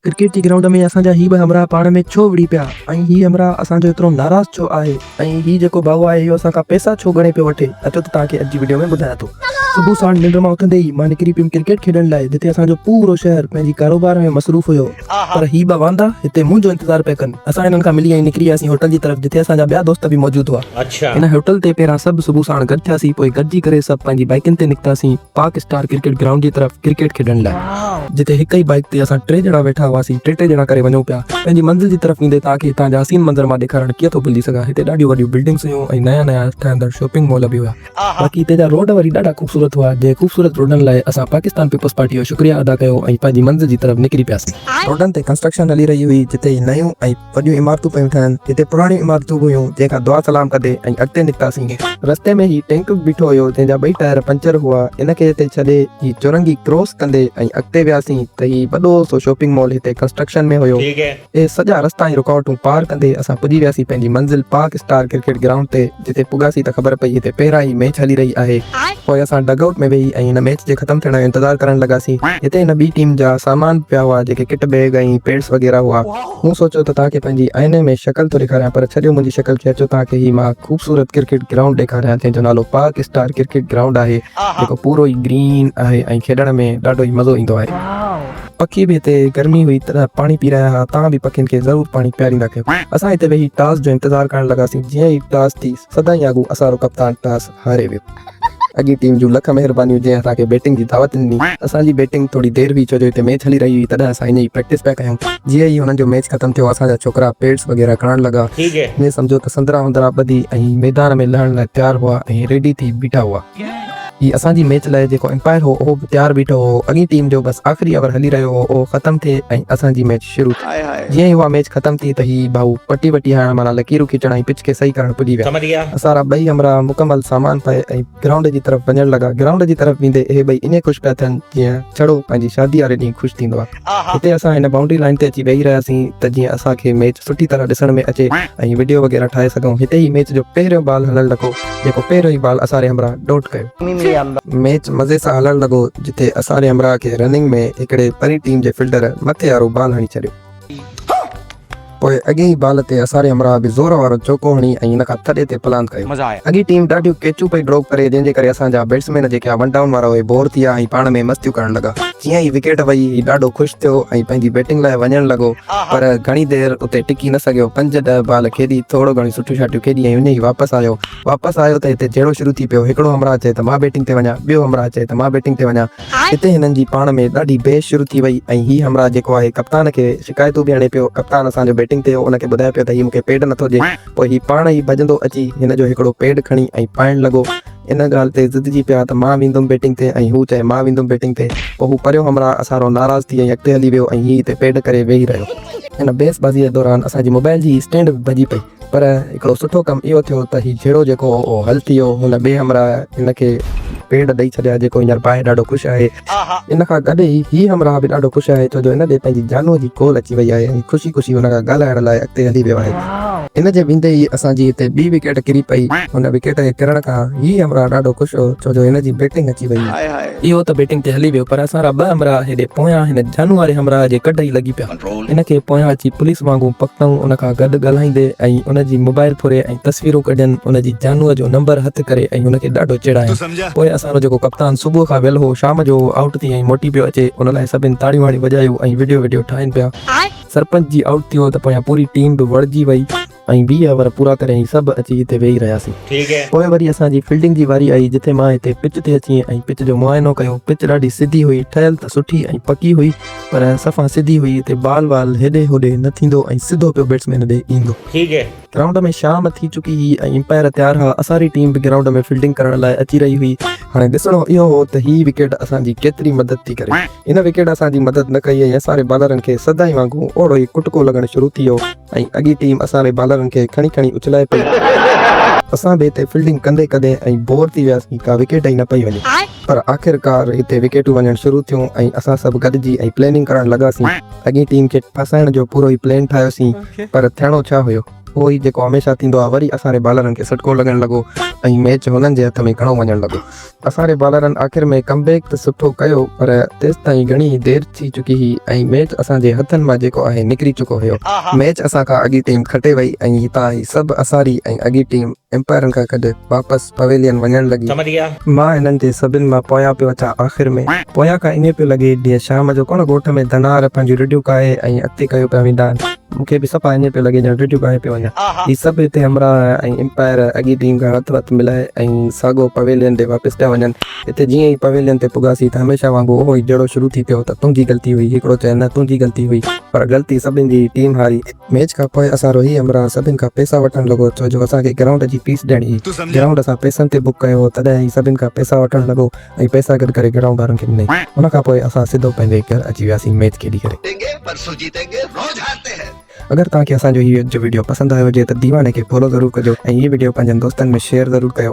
Cricket جي ground ۾ اسان جا هي ٻه همراهه پاڻ ۾ ڇو وڙهي پيا ۽ هي همراهه اسان جو ايترو ناراض ڇو آهي ۽ هي جيڪو ڀائو آهي اهو اسان کان پئسا ڇو ڳڻي پيو وٺي اچو ته توهان کي اڄ جي وڊيو ۾ ٻڌايان ٿو. صبح ساڻ ننڊ مان اٿندي ئي مان نڪري پيم ڪرڪيٽ کيڏڻ لاء جتي اسان جو پورو شهر پنهنجي ڪاروبار ۾ مصروف هيو پر هي ٻه واندا هتي منهنجو انتظار پيا ڪن اسان هنن کان ملي ائين نڪري وياسين هوٽل جي طرف جتي اسان جا ٻيا دوست به موجود هئا هن هوٽل تي پهريان سڀ صبح ساڻ گڏ ٿياسين پوء گڏجي ڪري سڀ پنهنجي بائيڪن تي نڪتاسين پاڪ اسٽار ڪرڪيٽ گرائونڊ جي طرف ڪرڪيٽ کيڏڻ لاء جتي هڪ ئي بائيڪ تي اسان ٽي ڄڻا ويٺا هئاسين ٽي ٽي ڄڻا ڪري وڃون پيا پنهنجي منزل جي طرف ويندي توهان کي هتان جا حسين منظر مان ڏيکارڻ ڪيئن ٿو ڀلجي سگهان هتي ڏاڍيون وڏيون بلڊنگس هيون ۽ نيا نيا ٺهندڙ شاپنگ مال به هيا باقي هتي جا روڊ وري ڏاڍا خوبصورت هئا جنهن خوبصورت روڊن لاء اسان پاڪستان پيپلز پارٽي جو شڪريه ادا ڪيو ۽ پنهنجي منزل جي طرف نڪري پياسين روڊن تي ڪنسٽرڪشن هلي رهي هئي جتي ئي نيون ۽ وڏيون عمارتون پيون ٺهن، جتي پراڻيون عمارتون به هيون، جنهن کان دعا سلام ڪندي ۽ اڳتي نڪتاسين. رستي ۾ هي ٽينڪ به بيٺو هيو، جنهن جا ٻئي ٽائر پنچر هئا، ان کي هتي ڇڏي هي چرنگهي ڪراس ڪندي ۽ اڳتي وياسين ته هي وڏو سو شاپنگ مال هتي ڪنسٽرڪشن ۾ هيو. اهي سڄا رستا ۽ رڪاوٽون پار ڪندي اسان پڄي وياسين پنهنجي منزل پاڪ اسٽار ڪرڪيٽ گرائونڊ تي، جتي پڳاسين ته خبر پئي هتي پهريان ئي ميچ هلي رهي آهي. پوء اسان ڊگ آئوٽ ۾ ويهي ۽ هن ميچ جي ختم ٿيڻ جو انتظار ڪرڻ لڳاسين. هتي هن ٻي ٽيم جا سامان به پيا هئا، جيڪي ڪٽ بيگ ۽ پيڊس وغيره هئا. مون سوچيو ته توهان کي پنهنجي آئيني ۾ شڪل ٿو ڏيکاريان پر ڇڏيو منهنجي شڪل کي اچو توهان کي هي مان خوبصورت ڪرڪيٽ گرائونڊ ڏيکاريان جنهن جو نالو پاڪ اسٽار ڪرڪيٽ گرائونڊ آهي جيڪو پورو ئي گرين آهي ۽ کيڏڻ ۾ ڏاڍو ئي مزو ايندو آهي. پکي به هتي گرمي هئي تڏهن پاڻي پي رهيا ها توهان به پکين کي ضرور پاڻي پياريندا ڪيو. اسان هتي ويهي ٽاس جو انتظار ڪرڻ لڳاسين جيئن ئي ٽاس ٿي سدائين آڳو اسان رو ڪپتان ٽاس. هاري ويو. اڳين ٽيم جون لک مهربانيون جنهن اسان کي بيٽنگ جي دعوت ڏني. اسان جي بيٽنگ ٿوري دير هئي ڇو جو هتي ميچ هلي رهي هئي تڏهن اسان هن جي پريڪٽس پيا ڪيون. جيئن ئي هنن جو ميچ ختم ٿيو اسان جا ڇوڪرا پيڊس وغيره کڻڻ لڳا. ائين سمجهو ته سندرا هندرا ٻڌي ۽ ميدان ۾ لهڻ لاء تيار هئا ۽ ريڊي ٿي بيٺا هئا. هي اسان جي ميچ لاء جيڪو امپائر هو اهو به تيار بيٺو هو. اڳين ٽيم جو بس آخري اوور هلي رهيو هو اهو ختم ٿئي ۽ اسان جي ميچ شروع. شروع ٿي. جيئن ئي اها ميچ ختم ٿي ته هي ڀائو پٽي وٽي هڻڻ معنيٰ لڪيرون کيچڻ ۽ پچ کي صحيح ڪرڻ پڄي ويا. اسان را ٻئي همراهه مڪمل سامان پائي ۽ گرائونڊ جي طرف وڃڻ لڳا. گرائونڊ جي طرف ويندي اهي ٻئي ائين خوش پيا ٿين جيئن ڇڙو پنهنجي شادي واري ڏينهن خوش ٿيندو آهي. هتي اسان هن بائونڊري لائين تي اچي ويهي رهياسين ته جيئن اسان کي ميچ سٺي طرح ڏسڻ ۾ اچي ۽ وڊيو وغيره ٺاهي سگهون. هتي ئي ميچ جو پهريون بال هلڻ لڳو. جيڪو پهريون ئي بال اساري همراهه ڊوٽ ڪيو. ميچ مزي سان هلڻ لڳو جتي اساري همراهه کي رننگ ۾ هڪڙي پرين ٽيم جي فلڊر مٿي وارو بال هڻي ڇڏيو. پوء اڳين ئي بال تي اساري همراهه به زور وارو چوڪو هڻي ۽ ان کان ٿڏي تي پلاند ڪيو. اڳين ٽيم ڏاڍيون ڪيچون پئي ڊروپ ڪري جنهن جي ڪري اسان جا بيٽسمين جيڪي ها ون ڊائون وارا اهي بور ٿي ويا ۽ پاڻ ۾ مستيون ڪرڻ لڳا. جيئن ئي وڪيٽ وئي هي ڏاڍو خوش ٿيو ۽ پنهنجي بيٽنگ لاء وڃڻ لڳو. پر گهڻي دير اتي ٽڪي نه سگهيو، پنج ڏهه بال کيڏي، ٿورو گهڻيون سٽيون شاٽيون کيڏي ۽ اڃ ئي واپس آيو. واپس آيو ته هتي جهيڙو شروع ٿي پيو، هڪڙو همراهه چئي ته مان بيٽنگ تي وڃان، ٻيو همراهه چئي ته مان بيٽنگ تي وڃان. هتي هنن جي پاڻ ۾ ڏاڍي بحث شروع ٿي وئي ۽ هي همراهه جيڪو آهي ڪپتان کي شڪايتون به هڻي پيو، ڪپتان اسان جو بيٽنگ تي هو ان کي ٻڌائي پيو ته هي مون کي پيڊ نٿو ڏي، پوء هي پاڻ ئي ڀڄندو اچي هن جو هڪڙو پيڊ کڻي ۽ پائڻ لڳو. ان ڳالهه تي ضدجي پيا ته مان ويندم بيٽنگ تي ۽ هو چئي مان ويندم بيٽنگ تي. پوء هو پريو همراهه اسارو ناراض ٿي ۽ اڳتي هلي ويو ۽ هي هتي پيڊ ڪري ويهي رهيو. هن بحث بازيء دوران اسان جي موبائل جي اسٽينڊ به ڀڄي پئي پر هڪڙو سٺو ڪم اهو ٿيو ته هي جهيڙو جيڪو هو اهو حل ٿي ويو. هن ٻئي همراهه هن کي پيڊ ڏئي ڇڏيا جيڪو هينئر پائي ڏاڍو خوش آهي. ان کان گڏ ئي هي همراهه به ڏاڍو خوش آهي ڇو جو هن ڏي پنهنجي جانوء جي ڪول اچي وئي آهي ۽ خوشي خوشي هن کان ڳالهائڻ لاء اڳتي هلي ويو آهي. ان جي ويندي ئي اسان جي هتي ٻي وڪيٽ ڪري پئي. هن وڪيٽ جي ڪرڻ کان هي همراهه ڏاڍو خوش هو ڇو جو هن جي بيٽنگ اچي وئي. اهو ته بيٽنگ تي هلي ويو پر اسان را ٻه همراهه هيڏي پويان هن جانوء واري همراهه جي ڪڍ ئي لڳي پيا. هن کي پويان اچي پوليس وانگون پڪتائون ان کان گڏ ڳالهائيندي ۽ ان جي موبائل ڦري ۽ تصويرون ڪڍين ان جي جانوء جو نمبر هٿ ڪري ۽ هن کي ڏاڍو چيڙايان پوء اسان جو جيڪو ڪپتان صبح کان ويل هو شام جو هو آئوٽ ٿي ۽ موٽي پيو اچي ان لاء سڀين تاڙيون هڻي وڄايو ۽ وڊيو وڊيو ٺاهين پيا سرپنچ جي آئوٽ ٿيو ته پويان پوري ٽيم به وڙهجي وئي. ۽ ويهه اوور پورا ڪري ۽ سڀ اچي اتي ويهي رهياسين. پوء وري اسان جي فيلڊنگ جي واري آئي جتي مان اتي پچ تي اچي ۽ پچ جو معائنو ڪيو. پچ ڏاڍي سڌي هئي، ٺهيل ته سٺي ۽ پڪي هئي پر صفا سڌي هئي، اتي بال وال هيڏي هوڏي نه ٿيندو ۽ سڌو پيو بيٽسمين ڏي ايندو. گرائونڊ ۾ شام ٿي چڪي هئي ۽ امپائر تيار ها، اساري ٽيم به گرائونڊ ۾ فيلڊنگ ڪرڻ لاء اچي رهي هئي. هاڻي ڏسڻو اهو هو ته هي وڪيٽ اسان جي ڪيتري مدد ٿي ڪري. ان وڪيٽ اسان جي مدد نه ڪئي ۽ اساري بالرن کي سدائين وانگون اوڙو ئي ڪٽڪو لڳڻ شروع ٿي ويو. ۽ اڳي ٽيم اسان جي بالرن کي کڻي کڻي اڇلائي پئي. اسان به هتي فيلڊنگ ڪندي ڪندي ائين بور ٿي وياسين ڪا وڪيٽ ئي نه پئي وڃي. پر آخرڪار هتي وڪيٽون وڃڻ شروع ٿيون ۽ اسان سڀ گڏجي ۽ پليننگ ڪرڻ لڳاسين. اڳين ٽيم کي ڦاسائڻ جو پورو ئي پلين ٺاهيوسين پر ٿيڻو ڇا هيو اهو ئي جيڪو هميشه ٿيندو آهي وري اسان جي بالرن کي سٽڪو لڳڻ لڳو ۽ ميچ هنن جي هٿ ۾ گهڻو وڃڻ لڳو. اسان جي بالرن آخر ۾ ڪم بيڪ ته سٺو ڪيو پر تيستائين گهڻي دير ٿي چڪي هئي ۽ ميچ اسان جي هٿن مان جيڪو آهي نڪري چڪو هيو. ميچ اسان کان اڳي ٽيم کٽي وئي ۽ هتان هي سڀ اساري ۽ اڳي ٽيم امپائرن کان گڏ واپس پويلين وڃڻ لڳي. مان هنن جي سڀن مان پويان پيو اچان آخر ۾ پويان کان ائين پيو لڳي جيئن شام جو ڪنهن ڳوٺ ۾ ڌنار پنهنجيون رڍيون ڪاهي ۽ اڳتي ڪيو پيا ويندا آهن. مون کي به صفا ائين پيو لڳي ڄڻ رڍيون ڳائي پيو وڃان. هي سڀ هتي همراهه ۽ امپائر اڳي ٽيم کان هٿ وٿ ملائي ۽ ساڳو پويلين ڏي واپس پيا وڃن. هتي جيئن ئي پويلين تي پڳاسين ته هميشه وانگر اهو ئي جهيڙو شروع ٿي پيو ته تنهنجي غلطي هئي، هڪڙو چئي نه تنهنجي غلطي هئي پر غلطي سڀني جي هئي، ٽيم هاري. ميچ کان پوء اسان روهي همراهه سڀني کان پئسا وٺڻ لڳو ڇو جو اسان کي گرائونڊ جي فيس ڏيڻي هئي. گرائونڊ اسان پئسن تي بڪ ڪيو هو تڏهن هي سڀني کان پئسا وٺڻ لڳو ۽ پئسا گڏ ڪري گهڻائون ٻارن کي ڏنائين. ان کان پوء اسان سڌو پنهنجي گهر اچي وياسين ميچ کيڏي ڪري. اگر توهان کي اسان جو هي جو وڊيو پسند آيو هجي ته ديواني کي فالو ضرور ڪجو ۽ هي وڊيو پنهنجن دوستن ۾ شيئر ضرور ڪيو.